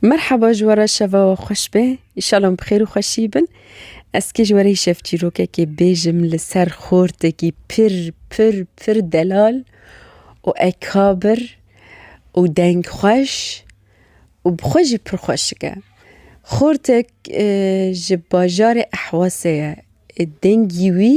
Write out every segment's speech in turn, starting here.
Merhaba ji were şeva we xweş be. Îşalan bi xêr û xweşî bin. Ez kê ji were şev çîrokekê bêjim li ser xortekî pir pir pir delal û ekabir û deng xweş û bi xwe jî pir xweşik e. Xortek ji bajarê Ehwasê ye. Dengî wî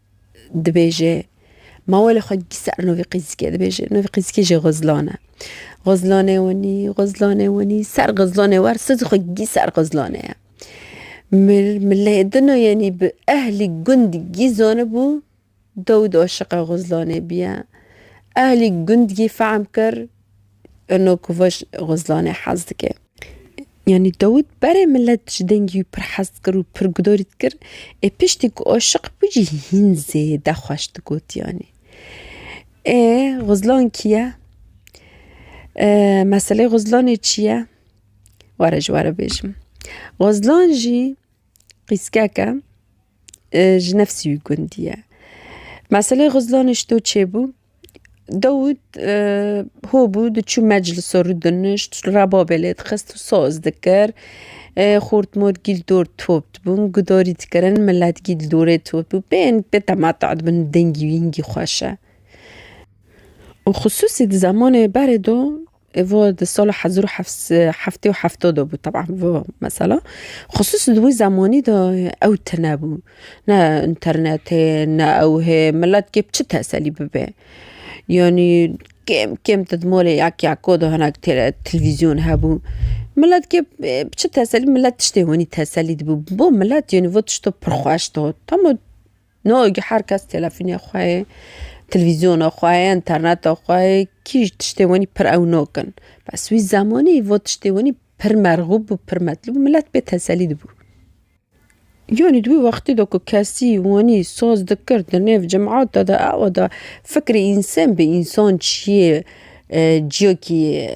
Dibêje, Mawe li xwe gî ser navê Qîzikê dibêje. Navê Qîzikê jî Xizlan e. Xizlanê wenî, Xizlanê wenî, ser Xizlanê wer sozê xwe gî ser Xizlanê ye. Mil, Milêdino yenî bi ehlî gund gî zanibû dew di aşiqa Xizlanê bîye. Ehlî gund gî fehm kir. Eno Kuvaş Xwezlanê hez dike. Yanî Dawît berê milet ji dengî wî pir hez dikir û pir gudarî dikir. Ê piştî ku aşiq bû jî hîn zêde xweş digot yanî. Ê Xwezlan kî ye? Meseleyê Xwezlanê çi ye? Were ji we re bêjim. Xwezlan jî qîskek e ji nefsî wî gundî ye. Meseleyê Xwezlanê ji to çêbû? Dawûd hobû diçû meclisa rû dinişt rebabê lê dixist û saz dikir xort mot gîl dor top dibûn gudarî dikirin milet gîl dorê top bû pê pê temeta dibin dengî wîngî xweş e û xisûsî di zemanê berê de. Evo di sala hezar û heftê û hefta de bû teban vo mesela. Xusûs di wî zemanî de ew tine bû. Ne înternetê ne ew hê milet kê bi çi teselî bibe. Yanî kêm kêm di malê yek yeka de hinek têre televîzyon hebû. Milet kê bi çi teselî milet tiştê wanî teselî dibû. Bo milet yanî vo tişta pir xweş da. Tama. No gi her kes telefonê xwe ye, televîzyona xwe ye, interneta xwe ye, kî ji tiştê wenî pir ewno kin. Bes wî zemanî vo tiştê wenî pir merxûb bû, pir metlûb bû, milet pê teselî dibû. Yanî di wî wextî de ku kesî wenî saz dikir di nêv cemata de, awa de fikrê însen bi însan çi ye, Ciyokî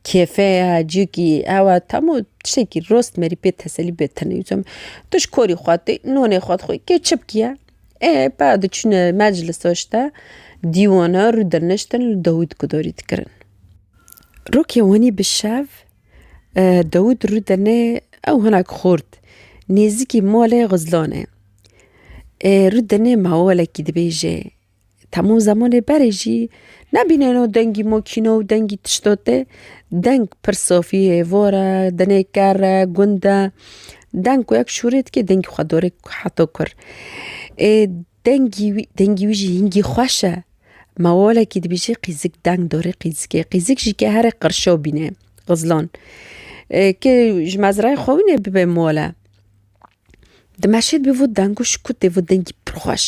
kêfe ye, ciyokî ew e temû tiştekî rost merî pê teselî bê tenê wisa me. Tu ji korî xwe tê nûnê xwe dixwî kê çi bikî ê bala diçûne meclisa ji te dîwana rû dirniştin li dawût gudarî dikirin. Rokê wanî bi şev dawût rû dirnê ew hinek xort nêzîkî malê xizlane rû dirnê mewalekî dibêje. Temû zemanê berê jî nebîneno dengî mokîno û dengî tişto tê. Deng pir safî yê, vor e, dinê ker e, gund e. Deng ku yek şûrê dike dengî xwe dorê heta kur. Ê dengî wî dengî wî jî hingî xweş e. Ma walekî dibêje qîzik deng dorê qîzikê. Qîzik jî ke here qirşew bîne, xizlan. Kê ji mezrayê xwe wî nê bibe mole. Dimeşê bi vû deng û şikûtê vû dengî pir xweş.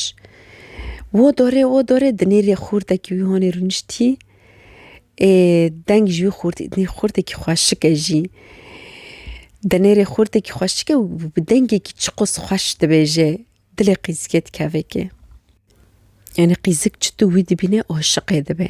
Wo dorê wo dorê di nêrê xûrdekî wî hanê rûniştî. Ê deng ji wî xûrt nê xûrdekî xweşik e jî. Di nêrê xûrdekî xweşik e û bi dengekî çiqûs xweş dibêje dilê qîzikê dikeve kê. Yanî qîzik çitû wî dibîne aşiqê dibe.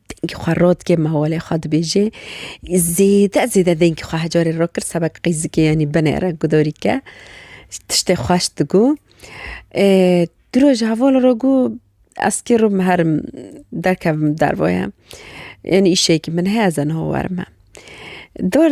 Dengê xwe rot kir, mawalê xwe dibêje. Zêde zêde dengê xwe hecarê rot kir, sebek qîzikê yanî binê re gudarî ke. Tiştê xweş digo. Di rojê hevala re got ez kê re herim derkevim derve ye. Yanî îşeyekî min heye ez ê niha werim me. Dor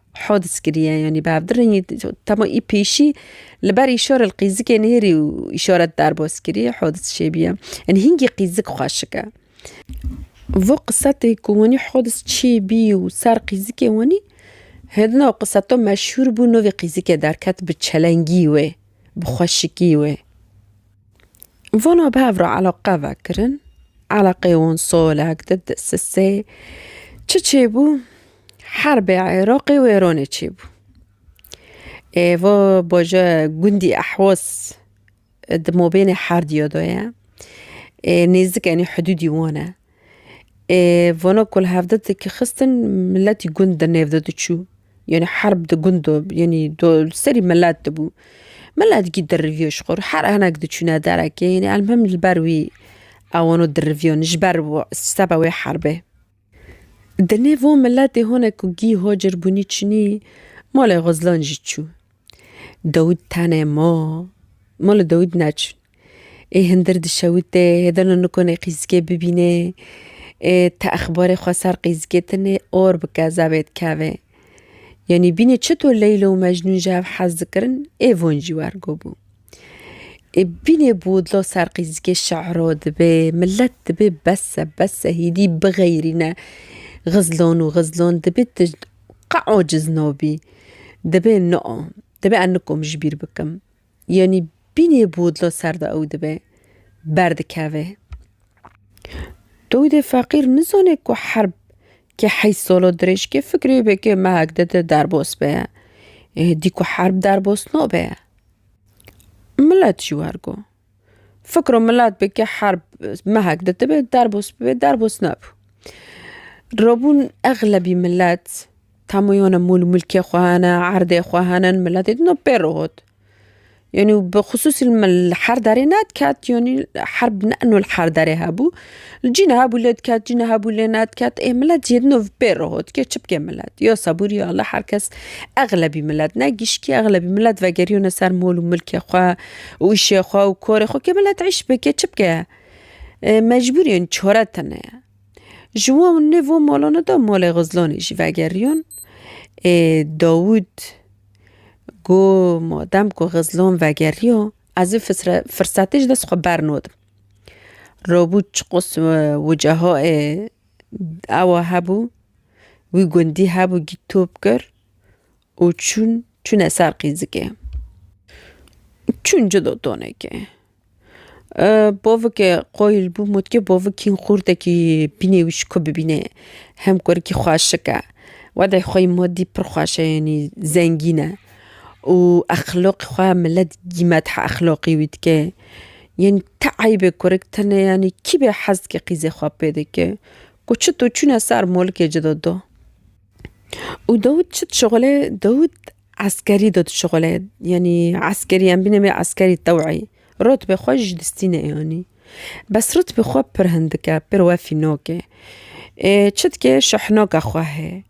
Hodis kiriye yanî bi hevdî rengî tama î pêşî li ber îşora li qîzikê nêrî û îşoret derbas kirî hodis çêbîye. Yanî hingî qîzik xweşik e. Vo qisetê ku wanî hodis çêbî û ser qîzikê wanî hêdina û qiseto meşhûr bû novê qîzikê derket bi çelengî wê bi xweşikî wê. Vana bi hev re eleqe vekirin. Eleqeyê wan salek di di sisê çi çêbû herbê Iraqê û Êranê çêbû. Ê va baje gundî ehwas di mabênê her diya de ye. Ê nêzik enê hidûdî wan e. Ê vana ku li hev de dikixistin miletî gund di nêv de diçû. Yenî herb di gund do, yenî do li serî milet dibû. Miletkî diriviyo ji xwe re. Her hinek diçûne derekê, yenî elmuhim li ber wî ew wano diriviyon ji ber seba wê herbê. Di nêv wan miletê hinek ku gî hocir bûnî çûnî malê xwe zilan jî çû. Dawît tenê ma. Ma li Dawît neçûn. Ê hindir dişewitê, hê dano nikonê qîzikê bibînê, ê te exbarê xwe ser qîzikê tinê or bi kezebê dikevê. Yanî bînê çito Leyla û Mecnûn ji hev hez dikirin, ê van jî wergo bû. Ê bînê bi wudla ser qîzikê şe'ra dibê, milet dibê bes e, bes e, hîdî bixeyrîne. Xizlan û xizlan dibê tu qe aciz nabî. Dibe na, dibe ez nikom ji bîr bikim. Yanî bînê bi wudla ser de ew dibe, berdikeve. Dawîdê feqîr nizane ku herb ke heyş sala dirêj ke fikirê be ke mehek de de derbas be. Dî ku herb derbas nabe. Milet jî wergo. Fikro milat bi ke herb mehek ditibe derbos bibe derbos nabû. Robûn exlebî milet tamoyona mûl mulkê xwe hene erdê xwe hene miletê din û pê re hot. Yanî bi xisûsî li me li her derê ne diket yanî herb ne ino li her derê hebû. Cî niha bû lê diket, cî niha bû lê nediket. Ê milet yê din û vi pê re hot ke çi bike milet? Yo sebûrî ya li her kes exlebî milet ne gişkî exlebî milet vegerîyone ser mol û milkê xwe û îşê xwe û korê xwe ke milet îş bike çi bike? Mecbûrîyên çore tune ye. Ji wan û nêv wan molane de molê Xizlonê jî vegerîyon. Ê Dawûd got ma dem ku Xizlon vegerîyo ez vê firsatê ji dest xwe bernadim. Robû çiqûs wiceho ê ewa hebû wî gundî hebû gît top kir û çûn çûne ser qîzikê çûn ci dotonekê bavike qoyil bû motke bavikî xurtekî bînê wî şiko bibîne hem kurikî xweşike wede xwe yî madî pir xweşe yanî zengîne û exloqî xwe milet gîmet hexloqî wî dike Yanî ti eybê kurik tune yanî kî bê hez dike qîzê xwe pê dike ku çi tu çûne ser mulkê ci de do. Û Dawûd çi dişixulê Dawûd eskerî de dişixulê yanî eskerî em bîne bê eskerî teweyî rotbê xwe ji distî neyanî. Bes rotbê xwe pir hindik e pir wefî nok e. Ê çi dike şehnoka xwe heye.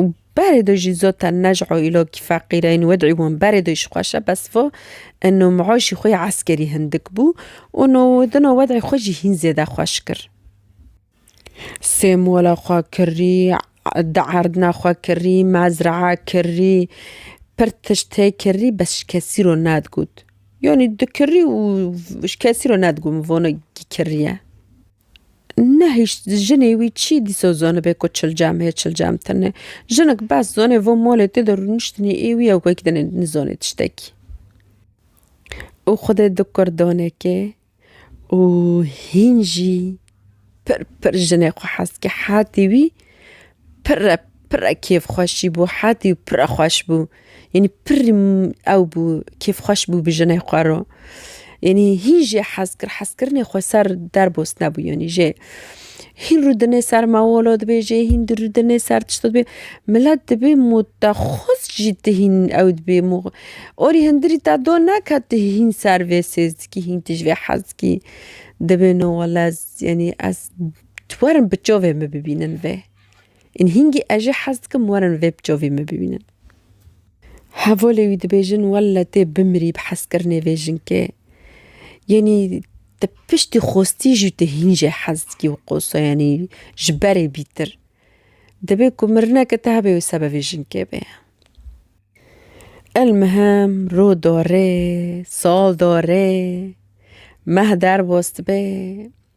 û berê do jî zot e ne ji aîlokî feqîr e ên wedî wan berê do jî xweş e bes va eno miaşî xwe yê eskerî hindik bû û no dino wedî xwe jî hîn zêde xweş kir. Sê mola xwe kirî, di erdina xwe kirî, mezraa kirî, pir tişt tê kirî bes ji kesî re nedigot. Yanî dikirî û ji kesî re nedigot min vano kî kirî ye. Nehişt jinê wî çî dîsa zanibe ku çilcem hê çilcem tine. Jinik bes zanê van malê tê de rûniştinê ê wî ew wek dinê nizanê tiştekî. Û xwedê di kur danekê û hîn jî pir pir jinê xwe hez kir. Hetî wî Pirre pirre kêfxweş jî bû hetî û pirre xweş bû. Yanî pirr ew bû kêfxweş bû bi jinê xwe re. Yanî hîn jê hez kir hezkirinê xwe ser derbos nebû yanî jê. Hîn rû dinê ser mewolo dibê jê hîn di rû dinê ser tişto dibê. Milet dibê mûtexuz jî ti hîn ew dibê mû. Orî hindirî te do neke ti hîn ser vê sêzdikî hîn tij vê hezkî. Dibêno wele ez yanî ez. Tu werin bi çavê min bibînin vê. Ên hîngî ez jî hez dikim werin vê bi çavê min bibînin. Hevalê wî dibêjin welle tê bimirî bi hezkirinê vê jinkê. Yanî te piştî xwestî jî tu hîn jê hez dikî û qosa yanî ji berê bîtir. Dibê ku mirineke te hebe wê sebe vê jinkê bê. Elmihem roj darê, sal darê, meh derbas dibe.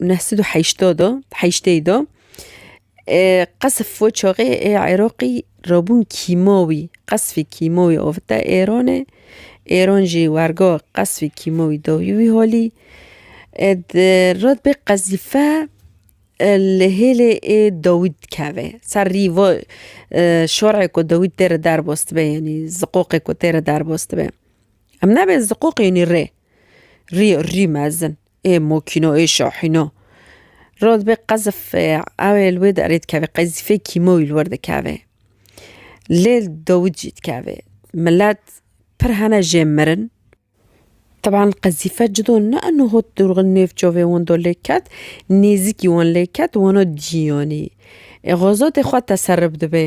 neh sed û heyştad de heyştê de qesf we çaxê ê Iraqî rabûn kîmawî qesfê kîmawî avite Êranê Êran jî werga qesfê kîmawî dawî wî halî ed red bê qezîfe li hêlê ê dawî dikeve ser rî va şarê ku dawî tê re derbas dibe yanî ziqoqê ku tê re derbas dibe em nabê ziqoqê yanî rê rî rî mezin. ê mokîno ê şahîno ra dibe qezif ewê li wê derê dikeve qezîfê kîmoyî li wir dikeve lê li dawît jî dikeve milet pir hene jê mirin teban qezîfe cido ne eno hot dûrxin nêv çavê wan de lê ket nêzîkî wan lê ket wana dîyanî ê xwezatê xwe teserrif dibe.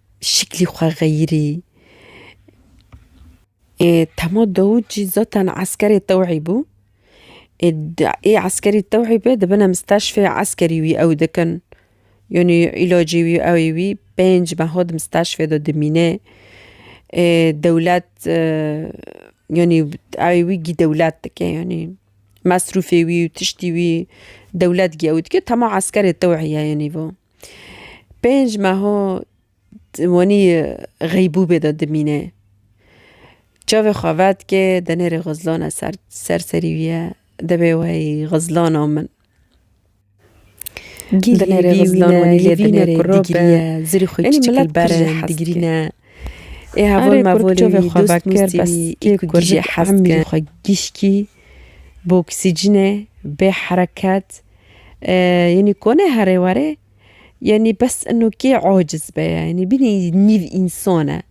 Şiklî xwe xeyirî. Ê Temo Dawûd jî zaten eskerê tewhî bû. Ê ê eskerî tewhî be dibin em steşfê eskerî wî ew dikin. Yanî îlacê wî ewê wî pênc meha di misteşfê de dimîne. Ê dewlet yanî ewê wî gî dewlet dike yanî mesrûfê wî û tiştî wî dewlet gî ew dike. Temo eskerê tewhî ye yanî bo. Pênc meha wanî xeybûbê de dimîne çavê xwe vedike denêrê xizlana ser ser serî wî ye divê wey xizlana min bi oksîcînê, bê hereket yanî kone herê were yanî bes ino kê aciz be yanî bînî nîv însan e.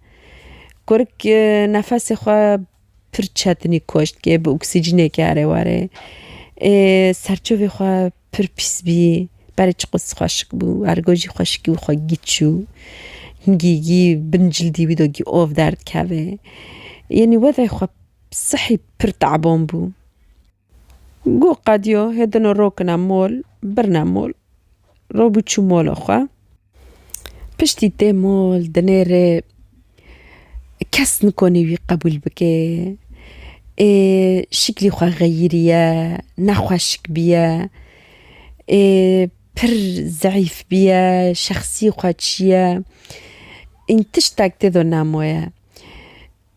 Kurik nefesê xwe pir çetinî koştke bi oksîcîneke here were ê serçavê xwe pir pîs bî berê çiqas xweşik bû ergo jî xweşikî wî xwe gît çû hingî gî bin cildî wî de av derdikeve yanî wezê xwe Sihî pir te'ban bû. Goh qediyo hê dino rokine mol, birine mol. Robû çû mola xwe. Piştî tê mol, dinê rê. Kes nikonî wî qebûl bike. Ê şiklî xwe xeyîriye, nexweşik bîye. Ê pir zeîf bîye, şexsî xwe çîye. Ên tiştek têdo nemo ye.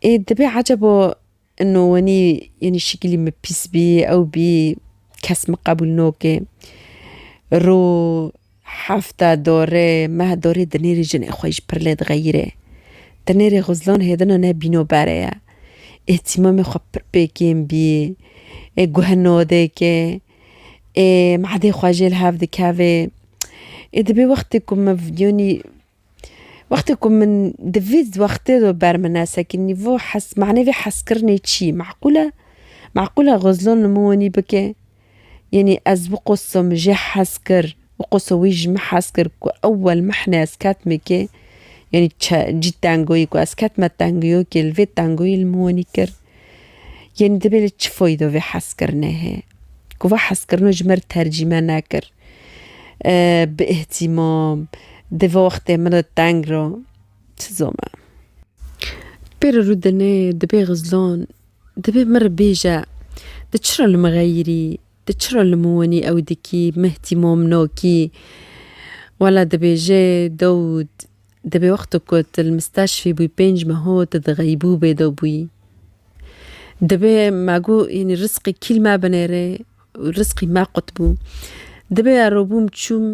Ê dibe ecebo no wenî yenî şikilî min pîs bî ew bî kes min qebûl noke. Ro hefta dore meh dorê di nêrî jinê xwe ji pir lê dixeyire. Di nêrê xwe zilam hêdina ne bîno bere ye. Îhtîmamê xwe pir pê kêm bî. Ê guhe node ke. Ê madê xwe jê li hev dikeve. Ê dibê wextê ku min yenî Wextê ku min di vî wextê de ber min e sekî nîvo hes manê vê heskirinê çi yî? Meqûl e? Meqûl e Xizlo li min wenî bike? Yanî ez biqoso min jê hes kir, biqoso wî ji min hes kir ku ewel mehne ez ketime kê, yanî çi cî tengoyî ku ez ketime tengoyokê li vê tengoyî li min wenî kir. Yanî divê li çi foydo vê hezkirinê hê ku va hezkirino ji me re tercîme nekir. Bi îhtîmam di vê wextê min re teng ra çi zome. Pê re Rûdinê dibê Xizlan dibê min re bêje tu çira li min xeyirî, tu çira li min wenî ew dikî, min îhtîmam nakî. Wela dibêje Dawûd Di bi wexto ku tu li misteşfî bûyî pênc meho tu di xeybûbê de bûyî. Dibe me got yanî risqê kîl me binêrê û risqî me qut bû. Dibe ero bûm çûm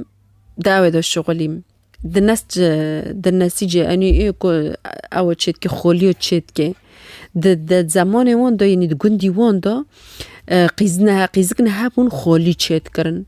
dawê de şixulîm. Di nes ci di nesî ci enî ku ew çê dike xolîyo çê dike. Di di zemanê wan de yanî di gundî wan de qîzine qîzikine hebûn xolî çê dikirin.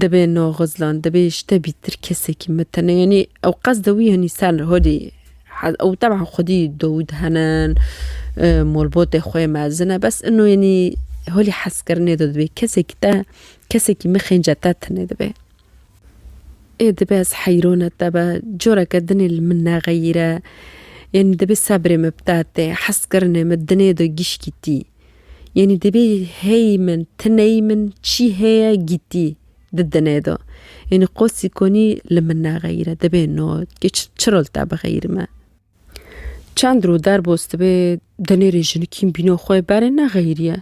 Dibê naxizlan, dibê ji te bîtir kesekî me tene yanî ew qesda wî yanî ser hodî ew teban xwedî dawî dihenin, malbatê xwe mezin e bes ino yanî holî hezkirinê de dibê kesekî te kesekî mixênce te tine dibe. Ê dibe ez heyrane te be, careke dinê li min nexeyîre. Yanî dibê sebrê me bi te tê, hezkirinê me dinê de gişkî tî. Yanî divê heyî min, ti neyî min çî heye gîtî di dine de. Yanî qosî konî li min nexeyîre, divê no çi rol te bixeyîrime. Çend rû derbos dibe di nêrê jinikîn bîno xwe berê nexeyîriye.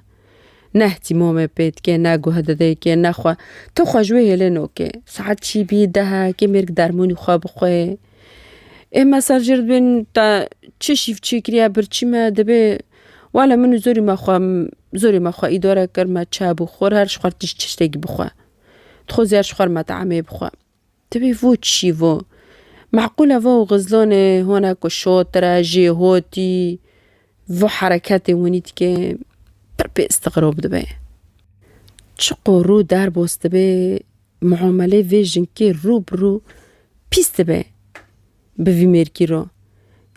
Ne îhtîmamê pê dike, ne guhe dide kê, ne xwe. Ti xwe ji wê hêlê no kê. Saet çî bî, dehek, kê mêrg dermûnî xwe bixwe. Ê me ser jê re dibên te çi şîv çêkiriye birçî me dibê wale min û zorî me xwe zorî me xwe îdare kir me çay bû xwir her ji xwe tişt tiştekî bixwe. Dixwazî her ji xwe re me teamê bixwe. Dibê vo çi şî vo. Meqûle vo xizlonê hone ku şotire jê hotî vo hereketê winî dike pir pê istigrob dibe. Çiqo rû derbos dibe muamelê vê jinkê rû bi rû pîs dibe bi vî mêrkî ro.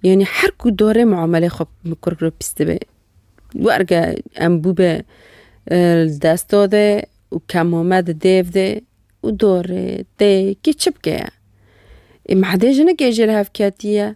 Yanî her ku dorê muamelê xwe bi kurk re pîs dibe. Werge em bûbe li desto de û kemame di dêv de û dorê tê kî çi bike ye. Ê madê jinikê jê li hev ketiye.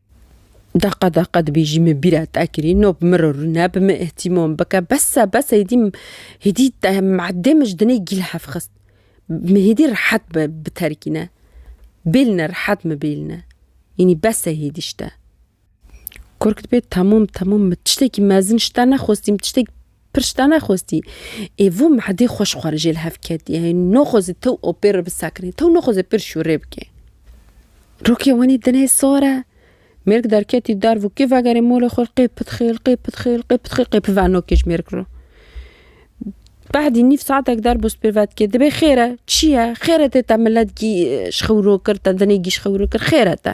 Deqa deqa dibêjî min bîra te kirî no bi min re rûne bi min îhtîmam bike bese bese hêdî hêdî te madê min ji dinê gîl hev xist min hêdî rehet be biterkîne bêline rehet min bêline înî bese hêdî ji te kurk dibê temûm temûm min tiştekî mezin ji te nexwestî min tiştekî Pir şita nexwestî. Ê vû mehdê xwe ji xwe re jê li hev ket. Yê noxwezê tew opê re bisekinê. Tew noxwezê pir şûrê bike. Rokê wenî dinê sor e. Mêrik derketî derv û kê vegerê molê xwe qê pitxêl, qê pitxêl, qê pitxêl, qê pive nokê ji mêrik re. Behdî nîv saetek der bo spîr vedikê. Dibê xêr e, çi ye? Xêr e tê te milet gî ji xewiro kir, te dinê gî ji xewiro kir, xêr e te.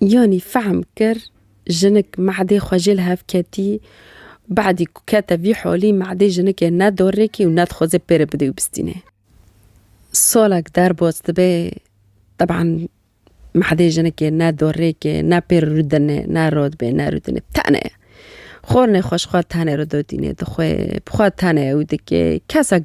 Yanî fehm kir jinik mehdê xwe jê li hev ketî. Badî ku kete vî holî mehdê jinikê ne dorrêkî û ne dixwaze pê re bidê û bistîne. Salek derbas dibe teban mehdê jinikê ne dorrêkê ne pê re rûdine ne radibê ne rûdine tene xwarinê xweşxwar tene re dodîne dixwe bi xwe tene ew dike kesek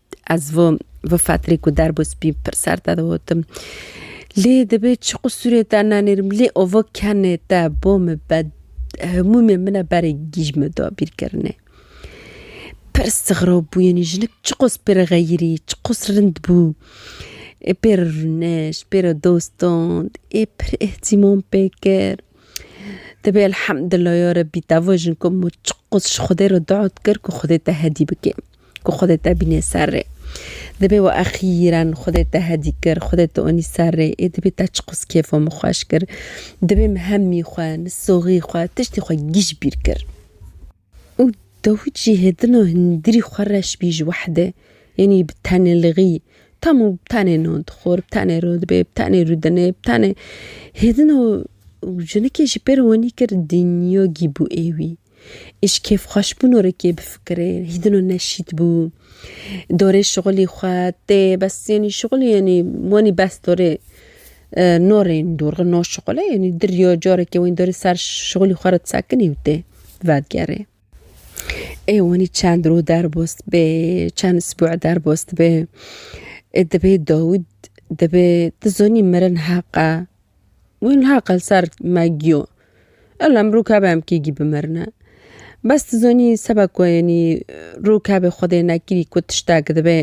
Ez vî vî fetrê ku derbû spî pir ser te digotim. Lê dibê çi qusûrê te nenêrim lê ova kenê te bo min be hemûmê min e berê gîj min da bîrkirinê. Pir sixrob bû yenî jinik çiqas pê re xeyirî çiqas rind bû. Ê pê re rûnişt pê re dost dand ê pir îhtîmam pê kir. Dibê elhemdullah ya rebî te vajin ku min çiqas ji xwedê re dua dikir ku xwedê te hedî bike. ku Xwedê te bînê ser rê. Dibê we exîren Xwedê te hedî kir, Xwedê te onî ser rê, ê dibê te çi qas kêfa min xweş kir. Dibê min hemî xwe, nisoxî xwe, tiştê xwe giş bîr kir. Û dawît jî hêdina hundirî xwe reş bî ji Wehedê, yanî bi tenê lixî, tamû bi tenê nan dixwar, bi tenê re dibê, bi tenê re dinê, bi tenê hêdina jinikê ji pêre wanî kir dinya gî bû ê wî. Îş kêfxweşbûno rê kê bifikirê, hîdino neşît bû. Dorê şixulî xwe tê bes yenî şixulî yenî wenî bes dorê no rê yenî dorxin no şixule yenî dir yo carekê wenî dorê ser şixulî xwe re sekinî û tê vedigerê. Ê wenî çend roj derbas dibe, çend sibûe derbas dibe. Ê dibê dawî dibê tu zanî mirin heq e Wî niha qel ser me giyo. Ewle em rûkabê em kî gî bimirine. Bes tu zonî seba ku yenî rûkabê Xwedê nekirî ku tiştek dibe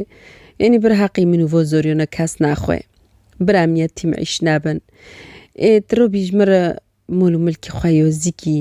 yenî bir heqî min û vo zorîyona kes naxwe. Bir em yetîm îş nebin. Ê tu rûbî ji min re mol û milkî xwe yo zîkî.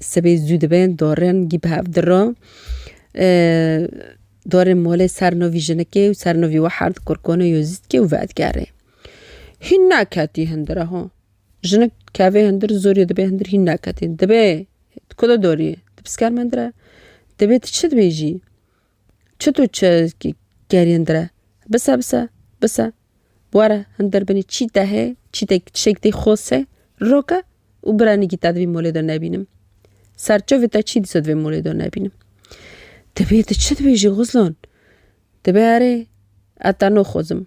Sibê zû dibin dorin gî bi hev diro. Dorên molê ser novî jinikê û ser novî we herd kurkonê yozîtkê û vedigerê. Hîn neketî hindir e ho. Jinik kevê hindir zorî dibê hindir hîn neketî. Dibê tu ku de dorî? Tu pisker min dire? Dibê tu çi dibêjî? Çi tu çi kerî hindire? Bise bise bise. Were hindir binî çî te hê çî te tişek tê xose roke û biranî kî te di vî molê de nebînim. Serçovê te çî dîsa di vê molê de nebînim. Dibê tu çi dibêjî Xuzlan? Dibe erê ez te noxozim.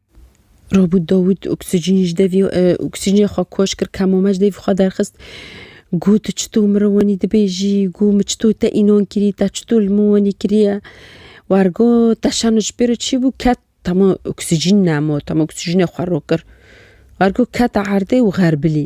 Robût Dawût oksîjînê ji devî oksîjînê xwe koç kir, kemame ji devî xwe derxist. Got tu çito min re wenî dibêjî, got min çito te înan kirî, te çito li min wenî kiriye. Wergot te şano ji pê re çi bû ket tema oksîjîn nemo, tema oksîjînê xwe rokir. Wergot kete erdê û xerbilî.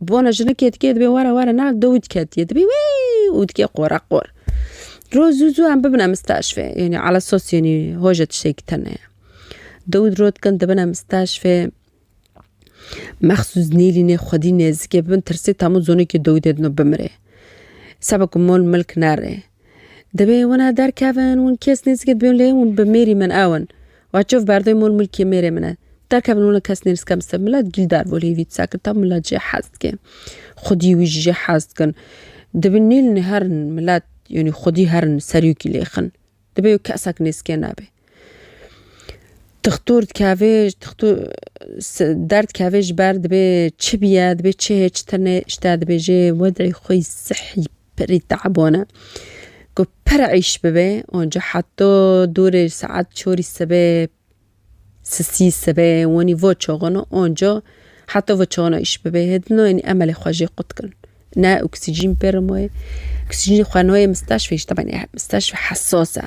Bi wana jinikê dikê dibê were were na do wî diketiye dibê wî û dikê qora qor. Roj zû zû em bibine misteşfê yanî ala sos yanî hoje tiştekî tune ye. Do wî roj dikin dibine misteşfê mexsûs nêlînê xwedî nêzikê bibin tirsê temû zonekî do wî dê dino bimirê. Seba ku mol milk nerê. Dibê wina derkevin win kes nêzikê dibên lê win bi mêrî min ew in. Wa çiv berdê mol milkê mêrê min e. Derkevin wina kes nêzikê min se milet gîl dar bo lê vîtsa kir ta milet jê hez dike. Xwedî wî jî jê hez dikin. Dibin nêlin herin milet yanî xwedî herin serî wikî lêxin. Dibê wê kesak nêzikê nebe. Tixtur dikeve der dikeve ji ber dibê çi biye dibê çi hê çi tune ji te dibêje wedê xwe yî sihî pirî teban e ku pir eîş bibe û ca heta dûrê saet çarî sibê sisî sibê wanî veçaxin û anca heta veçaxina eîş bibe hê di nayê emelê xwe jê qut kin ne oksîjîn pê re maye oksîjînê xwe nayê misteşfê ji te re misteşfê hesas e.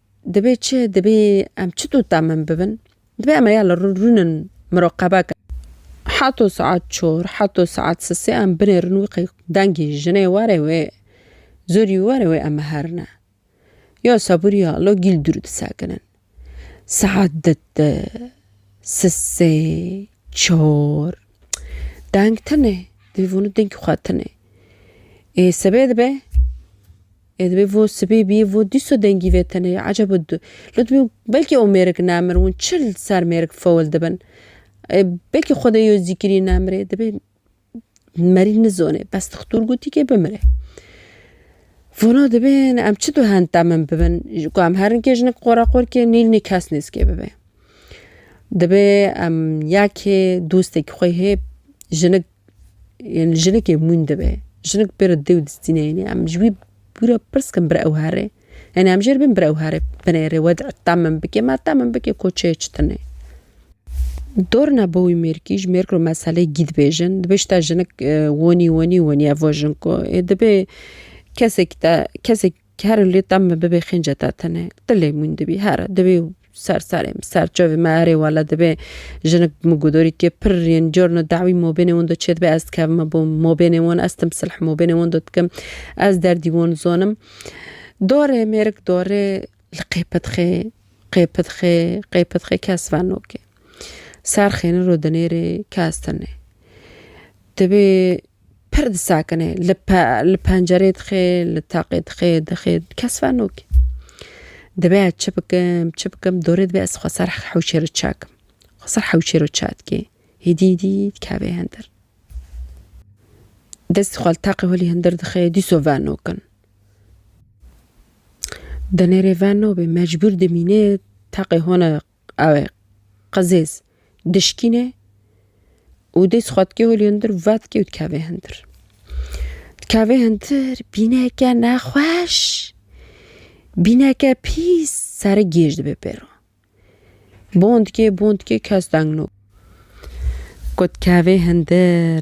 Dibê çi? Dibê em çi dota min bibin? Dibê em heya li rûn in miroqebe kin. Heto saet çor, heto saet sisê em binêrin wî qey dengî jinê were wê, zorî were wê em herine. Yo sebûrî ya lo gîl dûr disekinin. Saet di di, sisê, çor. Deng tune. Dibê vonu dengî xwe tune. Ê sibê dibe. Ê dibê vo sibê bîyê vo dîso dengî vê tene yê eceb û du. Li dibê belkî ew mêrik nemir hûn çi li ser mêrik fewil dibin. Ê belkî xwedê yo zîkirî nemirê dibê merî nizonê bes dixtur gotî kê bimirê. Vona dibê ne em çi du henta min bibin ji ku em herin kê jinik qora qor kê nîl nî kes nêzkê bibê. Dibê em ya kê dostekî xwe hê jinik Yên jinikê mûn dibe. Jinik pê re dê û distî neyêne. Em ji wî pî re pirs dikin bire ew here? Yanî em jê re bên bire ew here binêrê we deh min bike me deh min bike ku çê çi tune. Dorna bo wî mêrikî ji mêrik re meselê gî dibêjin. Dibê ji te jinik wonî wonî wonî evo jin ku ê dibê kesekî te kesekî Kere lê tem me bibê xênce te tenê. Ti lê mûn dibî here dibê û ser serê min, ser çavê min erê wele dibê jinik min gudorî kê pir yên carna dewî mabênê wan de çêdibe ez dikevime bo mabênê wan ez tim silh mabênê wan de dikim ez derdî wan dizanim darê mêrik darê li qêpitxê qêpitxê qêpitxê kes venokê ser xênir û dinêrê kes tenê dibê Pir disakine, li pe li pencerê dixê, li taqê dixê, dixê, kes ver nokê. Divê ez çi bikim, çi bikim, dorê divê ez xwe ser hewşê re çakim. Xwe ser hewşê re ça dikê, hêdî hêdî dikeve hindir. Destê xwe li taqê holî hindir dixê, dîso ver nokin. Di nêrê ver nobê, mecbûr dimînê taqê hona Ew ê qizêz dişkîne û dê xwe dikê holê hundir û vedikê û dikeve hundir. Dikeve hundir bîneke nexweş, bîneke pîs sere gêj dibe pêro. Bon dikê, bon dikê kes deng no. Ku dikeve hundir.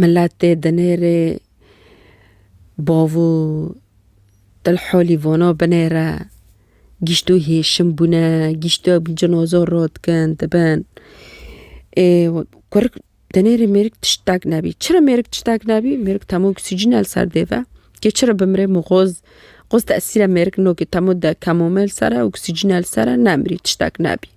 Miletê dinêrê bavû Dilholî vana binêre gîşto hêşim bûne, gîşto cinozor rot dikin dibin. Ê kurik dinêrê mêrik tiştek nebî. Çira mêrik tiştek nebî? Mêrik temo oksîjîne li ser dê ve. Kê çira bimirê min xwez xwez tesîra mêrik nokê temo de kemome li ser e, oksîjîne li ser e, nemirî tiştek nebî.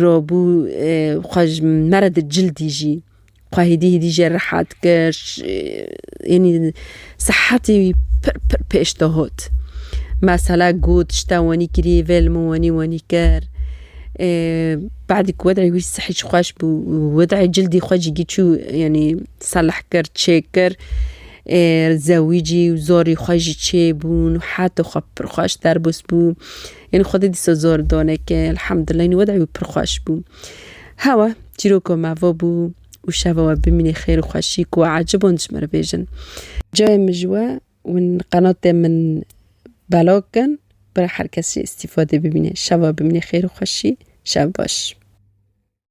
Robû xwe ji me re di cil dijî. Xwe hêdî hêdî jê rehet kir. Yanî sihetê wî pir pir pêş dihot. Mesela got ji te wenî kirî vê li min wenî wenî kir. Badî ku wedê wî sihê çi xweş bû wedê cildî xwe jî giçû yanî seleh kir çêkir. Zewî jî zorî xwe jî çêbûn. Heta xwe pir xweş derbas bû. Yanî xwedî dîsa zor donek e. Elhamdullah yanî wedayê wî pir xweş bû. Hewa çîroka me va bû û şeva we bimînê xêr û xweşî ku we ecêb wan dijmir bêjin. Cayê min ji we win qenatê min belag kin bira her kes jî îstîfadê bimîne. Şeva bimînê xêr û xweşî. Şev baş.